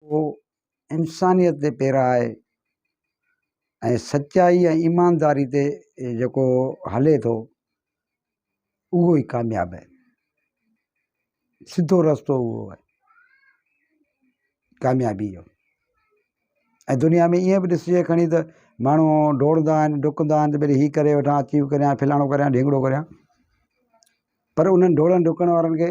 اهو انسانيت تي پيرا آهي ۽ سچائي ۽ ايمانداري تي جيڪو هلي ٿو اهو ئي ڪامياب آهي سڌو رستو اهو آهي ڪاميابي جو ۽ دنيا ۾ ائين به ڏسجي کڻي ته ماڻهو ڊوڙندا آهن ڊڪندا آهن ته ڀلي هي ڪري وٺان اچيو ڪريان فلاڻو ڪريان ڍينگڙو ڪريان پر انهن ڊوڙڻ ڊڪڻ وارن کي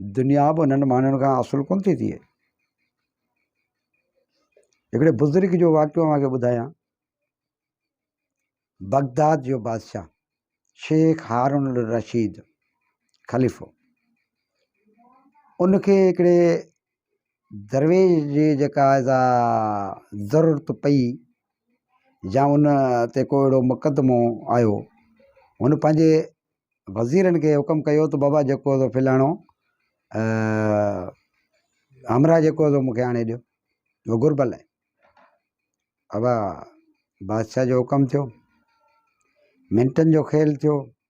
دنيا به انهن ماڻهن کان حاصل ڪونه ٿي ٿئي هڪڙي بزرگ جو واقعو اوهان کي ٻڌايان بغداد جو بادشاهه شيخ هارون الرشيد خليفو ان کي هڪڙي درويش جي جيڪا سا ضرورت پئي يا ان تي ڪو اهڙو مقدمو آيو هن پنهنجي وزيرن کي حڪم ڪيو ته بابا جيڪو هو فلاڻو همراء جيڪو هو مونکي آڻي ڏيو هو گهربل آهي ابا بادشاهه جو حڪم ٿيو منٽن جو کيل ٿيو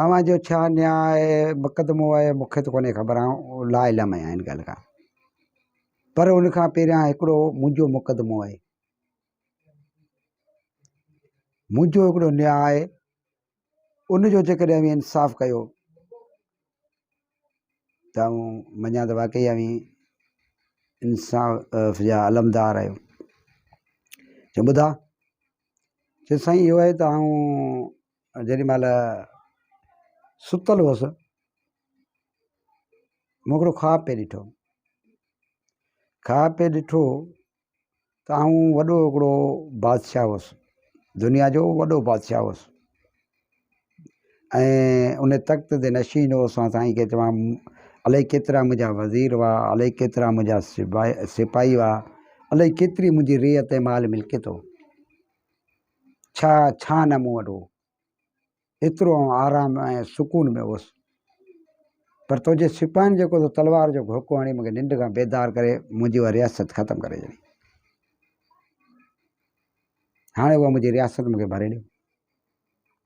اوهان جو ڇا نياء آهي، مقدمو آهي، مون کي ته ڪونهي خبر، آئون لا علم آهيان ان ڳالهه کان. پر ان کان پهريان هڪڙو منهنجو مقدمو آهي. منهنجو هڪڙو نياء آهي، ان جو جيڪڏهن اوهين انصاف ڪيو ته آئون مڃان ته واقعي اوهين انصاف جا علمدار آهيو. چيو ٻڌا؟ چيو سائين اهو آهي ته آئون جيڏي مھل ستل ھوس مون ھڪڙو خواب پئي ڏٺو خواب پئي ڏٺو ته آئون وڏو ھڪڙو بادشاھ ھوس دنيا جو وڏو بادشاھ ھوس ۽ ان تخت تي نشين ھوس ۽ سائين کي چوان الائي ڪيترا منھنجا وزير ھئا الائي ڪيترا منھنجا سپاھي ھئا الائي ڪيتري منھنجي رعيت مال ملڪيت ھو ڇا ڇا نه مون وٽ هو ايترو آئون آرام ۽ سڪون ۾ هوس پر تنهنجي سپاهين جيڪو تو تلوار جو گهوڪو هڻي مونکي ننڊ کان بيدار ڪري منهنجي اها رياست ختم ڪري ڇڏي هاڻي اها منهنجي رياست مونکي ڀري ڏيو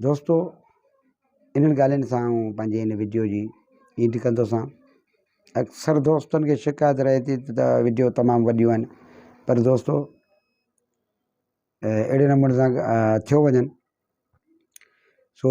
دوستو انهن ڳالهين سان آئون پنهنجي هن وڊيو جي اينڊ ڪندو سان اڪثر دوستن کي شڪايت رهي ٿي ته وڊيو تمام وڏيون آهن پر دوستو اهڙي نموني سان ٿيو وڃن سو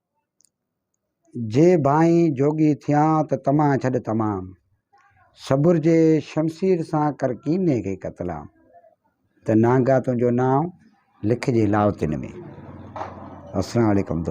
جي ڀانئين جوڳي ٿيان ته طمع ڇڏ تمام. صبر جي شمشير سان ڪر ڪيني کي قتلام. ته نانگا تنهنجو نانء لکجي لاوتين ۾. السلام عليڪم دوستو.